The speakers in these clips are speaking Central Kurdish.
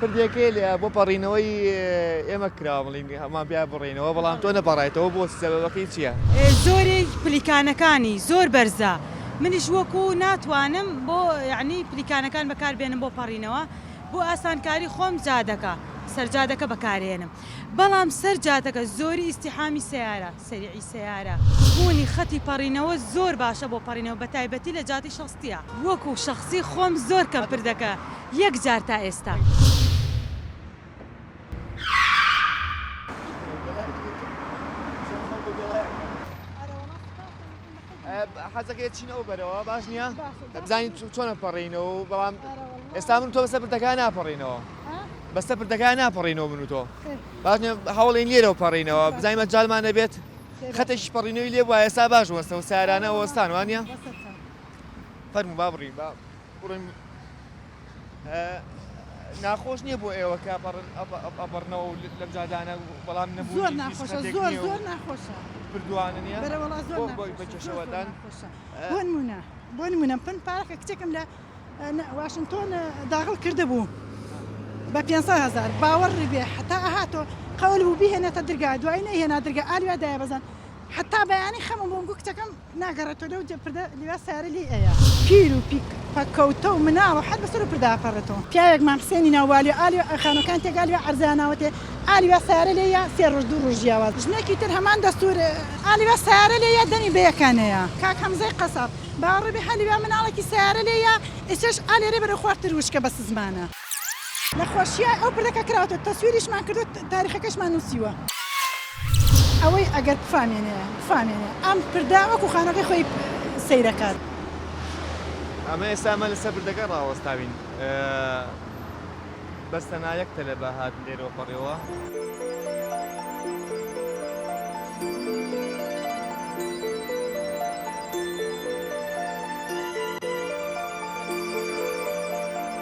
پردێکەی لێ بۆ پەڕینەوەی ئێمە کراوە بڵین هەمان بیا بڕینەوە بەڵام تۆ نەپەڕایتەوە بۆ سەبەکەی چییە؟ زۆری پلیکانەکانی زۆر بەرزە منیش وەکو ناتوانم بۆ یعنی پلیکانەکان بەکاربێنم بۆ پەڕینەوە بۆ ئاسانکاری خۆم جادەکە سەرجادەکە بەکارێنم بەڵام سەر جادەکە زۆری ئیسیحامی سیارە سەریعی سەیارە، بوونی خەتی پەڕینەوە زۆر باشە بۆ پەڕینەوە بە تایبەتی لە جادەی شەستیە. وەکو شەخسی خۆم زۆر کەم پردەکە یەک جار تا ئێستا. حەزەکەی چین ئەو بەرەوە باش نییە بزانین چۆنە پەڕینەوە بەڵام ئێستا من تۆ بەسە پردەکان ناپەڕینەوە بەسە پردەکان ناپەڕینەوە من و تۆ باش هەوڵین لێرەوە پەڕینەوە بزانین مەجالمان نەبێت خەتێکی پەڕینەوەی لێ وایە ئێستا باش وەستە و سارانە وەستان وانە فەرمو با بڕین با بڕین ناخۆش نیە بۆ ئێوە کە ئەپەڕن ئەپەڕنەوە و لەم جادانە بەڵام نەبوو زۆر ناخۆشە زۆر زۆر ناخۆشە بردوانن یا بەرەوەڵا زۆر بۆی بەکێشەوەدان بۆ نمونە بۆ نمونە پن پارەکە کچێکم لە واشنتۆن داغڵ کرده بوو بە 500 هزار باوەڕ ڕیبێ حتا ئەهاتۆ قەول بوو بهێنێتە درگا دوای نەهێنا درگا ئالوێ دایە بەزان حتا بەیانی خەمم بۆم گو کچەکەم ناگەڕێتۆ لەو جێ پردە لوا سارە لێی ئەیا. پیر و پیک پەککەوتە و مناڵ و حەر بە سەر و پردا ئەپەڕێتۆ. پیاوێک مام حسێنی ناو والیۆ ئا لوا خانووەکان تێگا لوا عەرزەیا ناوەتێ ئا لوا سارە لێ یا سێ ڕۆژ دوو ڕۆژ جیاواز ژنێکی تر هەمان دەستوور ئا لوا سارە لێ یا دەمی بەیەکا نەیا کاک هەمزەی قەساب باوەڕ بێ هە لوا مناڵێکی سارە لێ یا ئیچەش ئا لێرێ بەرەو خوار تر وشکە بە سزمانە. نەخۆشیە ئەو پردەکە کراوەتە تەسویریشمان کردوە تاریخەکەشمان نوسیوە ئەوەی ئەگەر بفامێنێ بفامێنێ ئەم پردە وەکو خانوەکەی خۆی سەیرەکات. ئەمە ئێستا ئەمە لەسەر پردەکە ڕاوەستاوین بەس تەنها یەک تەلەبە هات لێرەوە پەڕیەوە.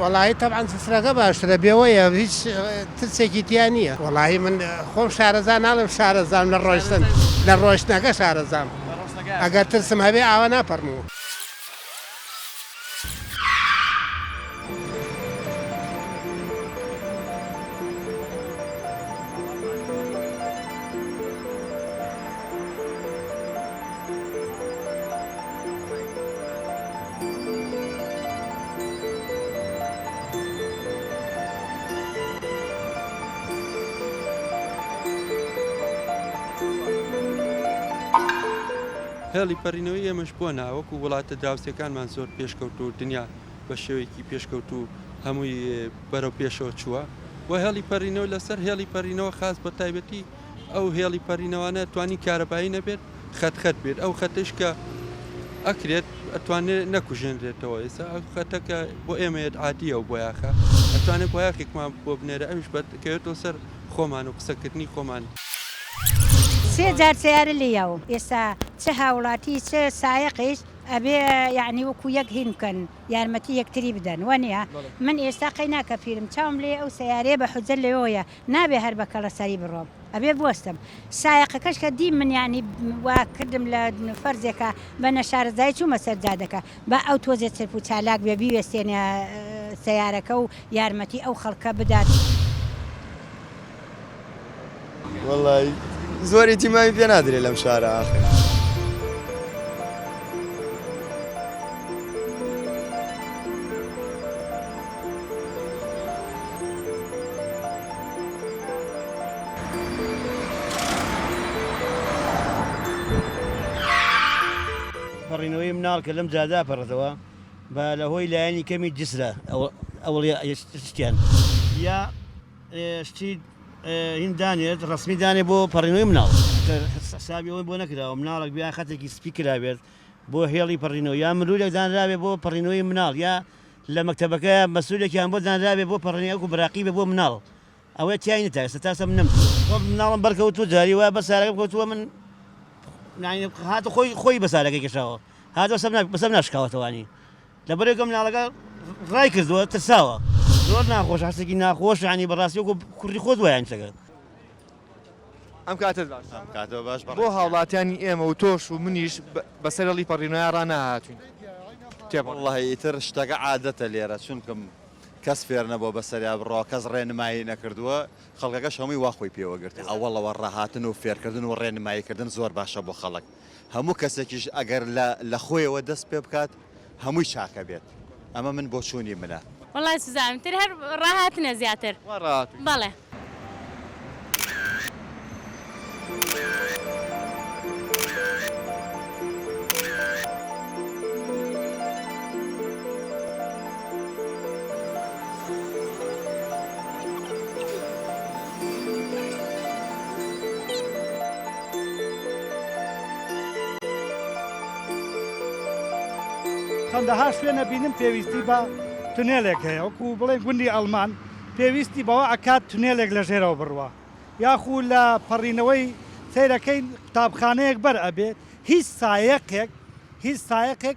وەڵاهی تەبعەن سفرەکە باشترە بێوەیە هیچ ترسێکی تیا نییە وەڵاهی من خۆم شارەزا ناڵێم شارەزام لە ڕۆشتن لە ڕۆشتنەکە شارەزام ئەگەر ترسم هەبێ ئاوا ناپەڕمەوە. هێڵی پەڕینەوەی ئێمەش بۆ ناوەکو وڵاتە دراوسێکانمان زۆر پێشکەوتوو و دنیا بە شێوەیەکی پێشکەوتوو هەمووی بەرەو پێشەوە چووە و هێڵی پەڕینەوە لەسەر هێڵی پەڕینەوە خاس بە تایبەتی ئەو هێڵی پەرینەوانە توانی کارەبایی نەبێت خەت خەت بێت ئەو خەتش کە ئەکرێت ئەتوانێت نەکوژێنرێتەوە ئێستا ئەو خەتەکە بۆ ئێمەیەت عادیە و بۆیاخە ئەتوانێت بۆیاخێکمان بۆ بنێرە ئەوش بەکەوێتەوە سەر خۆمان و قسەکردنی خۆمان. سێ جار سەیارە لێ یاوم ئێستا چ هاوڵاتی چ سایەقیش ئەبێ یەعنی وەکو یەک هین بکەن یارمەتی یەکتری بدەن وەنیە من ئێستا قەی ناکە پیرم چاوم لێیە ئەو سەیارەیە بە حوجە لەوێوەیە نابێ هەر بە کەڵە سەری بڕۆم ئەبێ بوەستم سایەقەکەش کە دیم من یانی وا کردم لە فەرزێکە بە نەشارەزای چوومە سەر جادەکە با ئەو تۆزێ چرپ و چالاک بێ بیوێستێنە سەیارەکە و یارمەتی ئەو خەڵکە بدات. وەڵای زۆر ئیتیمامی پێ نادرێ لەم شارە ئاخر. پەڕینەوەی مناڵ کە لەم جادا پەڕێتەوە بە لە هۆی لایەنی کەمی جسرە ئەوڵیا شتیان یا شتی هین دانێت ڕسمی دانێ بۆ پەڕینەوەی مناڵ حسابی ئەوەی بۆ نەکراوە مناڵک بیا خەتێکی سپی کرابێت بۆ هێڵی پەڕینەوە یا مرورێک دانراوێ بۆ پەڕینەوەی مناڵ یا لە مەکتەبەکە مەسولێکیان بۆ دانرابێ بۆ پەڕینی ئەوکو بەراقیبێ بۆ مناڵ ئەوەی تیای نەتا ئێستا تاسەم نەمچوو خۆ مناڵم بەرکەوتوو جاری وایە بەر سارەکەم کەوتووە من یانی هاتە خۆی خۆی بە سارەکەی کێشاوە هاتەوە سەم بەسەم ناشکاوەتەوانی لەبەرێکە مناڵەکە ڕای کردووە ترساوە زۆر ناخۆش هەستێکی ناخۆش یانی بەڕاستی وەکو کوڕی خۆت وایە ئەم شتەکە ئەم کاتەت باش ئەم کاتەوە باش بەڕێز بۆ هاوڵاتیانی ئێمە و تۆش و منیش بەسەر هەڵی پەڕیونایا ڕا ناهاتوین تێپەڕ. وەڵڵە ئیتر شتەکە عادەتە لێرە چونکم کەس فێر نەبوە بەسەریا بڕوا کەس ڕێنمایی نەکردوە خەڵکەکەش هەمووی وا خۆی پێوە گرتوە وەڵڵە وە ڕاهاتن و فێرکردن و ڕێنمایی کردن زۆر باشە بۆ خەڵک. هەموو کەسێکیش ئەگەر لە لە خۆیەوە دەست پێ بکات هەمووی چاکە بێت ئەمە من بۆچوونی منە. وەڵا سوزانم تر هەر ڕاهاتنە زیاتر وا ڕاهاتووی. بەڵێ. چەندەها شوێنە بینم پێویستی بە تونێلێک هەیە وەکو بڵێن گوندی ئەڵمان پێویستی بەوە ئەکات تونێلێک لە ژێرەوە بڕوا یاخو لە پەڕینەوەی سەیرەکەین قوتابخانەیەک بەر ئەبێت هیچ سایەقێک هیچ سایەقێک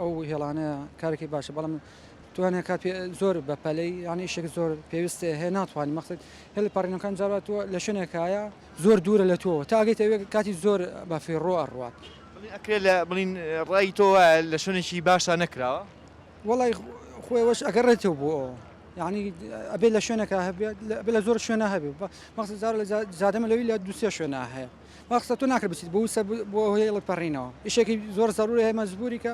ئەو هێڵانەیە کارێکی باشە بەڵام توانێت کات زۆر بە پەلەی یانی شێک زۆر پێویستێ هەیە ناتوانانی مەخت هێڵ پەڕینەکان جاوات تۆ لە شوێنێکایە زۆر دوورە لە تۆ تا ئەگەیت ئەوێ کاتی زۆر بە فێڕۆ ئەڕوات ئەکرێ لە بڵین ڕای تۆ وایە لە شوێنێکی باشە نەکراوە وڵی خۆی وەش ئەگەر ڕێتەوە بۆ ئەو یعنی ئەبێ لە شوێنەکە هەبێت بە لە زۆر شوێنە هەبێ بە مەخت زار لە زادەمە لەوی لە دوسێ شوێنە هەیە وا قسە تۆ ناکرد بچیت بۆ وسە بۆ هۆی هێڵی پەڕینەوە ئیشێکی زۆر زەرورە هەیە مەجبوری کە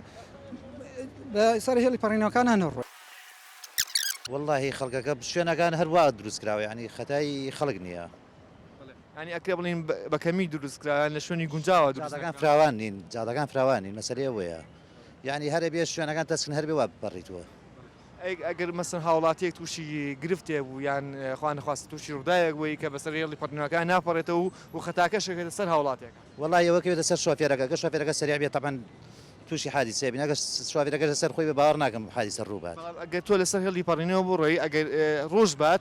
بە سەر هێڵی پەڕینەوەکان هەنەڕۆ واللهی خەڵکەکە شوێنەکان هەروا دروست کراوە یعنی خەتای خەڵک نییە ینی ئەکرێ بڵین بە کەمی دروست کراوە لە شوێنی گونجاوە دروستەکان فراوان نین جادەکان فراوان نین مەسەری ئەوەیە یعنی هەرە بێ شوێنەکان تەسکن هەربێ وا بپەڕیتوە ئەگەر مەسەن هاوڵاتیەک تووشی گرفتێک بوو یان خوا نەخواستە تووشی ڕووداوێک بووی کە بەسەر هێڵی پەڕینەوەکان ناپەڕێتەوە و خەتاکەش ئەکەوێتە سەر هاوڵاتیەکە؟ وەڵای ئەوە کەوێتە سەر شۆفێرەکە، گەر شۆفێرەکە سەریع بێت تەبعەن تووشی حادیسە ئەبین، ئەگەر شۆفێرەکەش لەسەر خۆی بێت باوەڕ ناکەم حادیسە ڕوو بات. بەڵام ئەگەر تۆ لەسەر هێڵی پەڕینەوە بڕۆی ئەگەر ڕۆژ بات،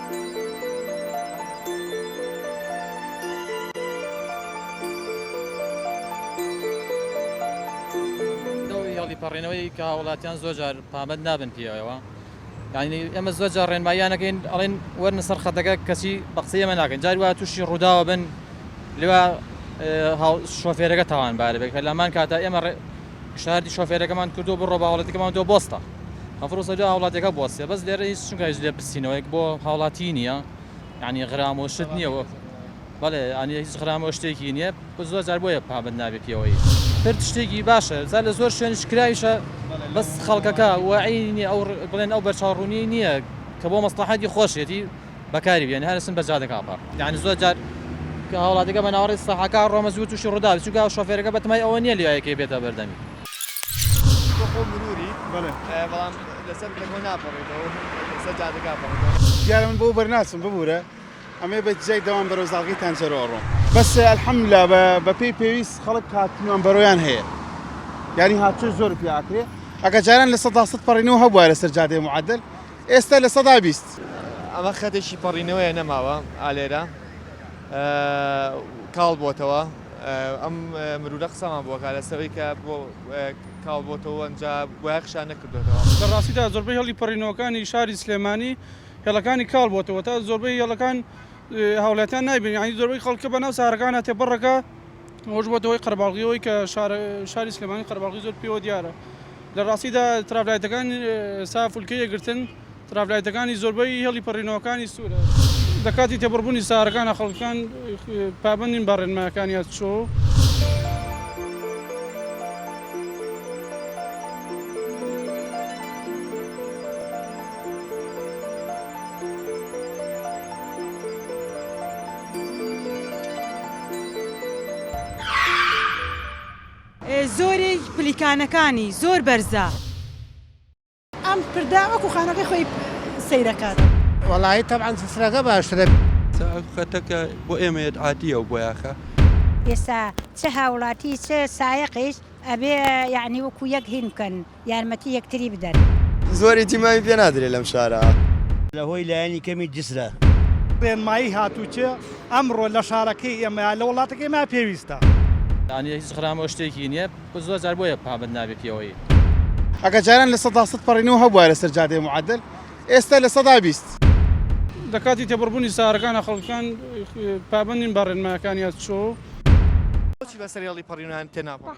هێڵی پەڕێنەوەی کە هاوڵاتیان زۆر جار پابەند نابن پێیەوە یعنی ئێمە زۆر جار ڕێنماییانەکەین ئەڵێن وەرنە سەر خەتەکە کەسی بە قسەی ئێمە ناکەن جاری وا تووشی ڕووداوە بن لێوا شۆفێرەکە تاوانبارە بێت کە لەمان کاتە ئێمە پیشنهادی شۆفێرەکەمان کردووە بڕۆ بە هاوڵاتیەکەمان دۆ بۆستە هەفرۆسە دو هاوڵاتیەکە بۆستێ بەس لێرە هیچ چونکە هیچ لێ پرسینەوەیەک بۆ هاوڵاتی نییە یعنی غرامۆ شت نییەوە بەڵێ ئەنی هیچ غرامۆ شتێکی نییە بە زۆر جار بۆیە پابند نابێ پێوەی هەر شتێکی باشە جا لە زۆر شوێن شکراویشە بەس خەڵکەکە وعینی ئەو بڵێن ئەو بەرچاوڕوونی نییە کە بۆ مەسلحەتی خۆشێتی بەکاری بێنێ هەرسن بە جادە کاپە یانی زۆر جار کە هاوڵاتیەکە بە ناوەڕی سەحەکە ڕۆمە زوو تووشی ڕووداوی چونکە ئەو شۆفێرەکە بە تەمای ئەوە نییە لێیەکەی بێتە بەردەمی. تۆ خۆ مروری؟ بەڵێ. بەڵام لەسەر پلەکەوە ناپەڕێتەوە لەسەر جادە کاپەڕێتەوە. دیارە من بەو بەر ناچم ببورە ئەمەی بە جیای دەوام بەرەو زاڵگەی تانجەرۆ ئەڕۆم. بەس الحمدللە بە بە پێی پێویست خەڵک هاتنوان بەرۆیان هەیە یانی هاتوچۆی زۆر پێ ئاکرێ ئەگە جاران لە سەدا سەد پەڕینەوە هەبوایە لەسەر جادەی معدل ئێستە لە سەدا بیست. ئەمە خەتێکی پەڕینەوەیە نەماوە ئالێرە کاڵ بۆتەوە ئەم مرورە قسەمان بۆکە لەسەوەی کە بۆ کاڵ بۆتەوە ئەجا بۆە خشان نەکردێتەوە لە ڕاستیدا زۆربەی هێڵی پەڕینەوەکانی شاری سلێمانی هێڵەکانی کاڵ بۆتەوە تا زۆربەی هێڵەکان هاوڵاتیان نایبین ینی زۆربەی خەڵکە بەناو سارەکانە تێپەڕەکە ئەوەش بووەتە هۆی قەرەباڵغی ئەوەی کە شاری سلێمانی قەرەباڵغی زۆر پێوە دیارە لە ڕاستیدا ترافلایتەکان ئێستا فولکەی یەکگرتن ترافلایتەکانی زۆربەی هێڵی پەڕینەوەکانی سوورە لە کاتی تێپەڕبوونی سارەکانە خەڵکان پابەندین بە ڕێنمایەکان یاد چۆ زۆری پلیکانەکانی زۆر بەرزە. ئەم پردە وەکو خانوەکەی خۆی سەیرەکات. وەڵایی تەبعەن سفرەکە باشترە. چ ئەو خەتەکە بۆ ئێمەیەت عادیە و بۆیاخە. ئێستا چ هاوڵاتی چ سایەقیش ئەبێ یەعنی وەکو یەک هین بکەن. یارمەتی یەکتری بدەن. زۆری تیمامی پێ نادرێ لەم شارە. لە هۆی لایەنی کەمی جسرە. ڕێنمایی هاتووچ ئەمڕۆ لە شارەکەی ئێمە یا لە وڵاتەکەی ئێمە پێویستە. یانی هیچ خرام و شتێکی نیە زۆر جار بۆیە پابەند نابێ پێوەی. ئەگەر جاران لە سەدا سەد پەڕینەوە هەبوایە لەسەر جادەی معەدەل ئێستا لە سەدا بیست. لە کاتی تێپەڕبوونی سارەکانا خەڵکان پابەند نین بە ڕێنمایەکان یا چۆ؟ بۆچی بەسەر هێڵی پەڕیونان تێناپەڕین؟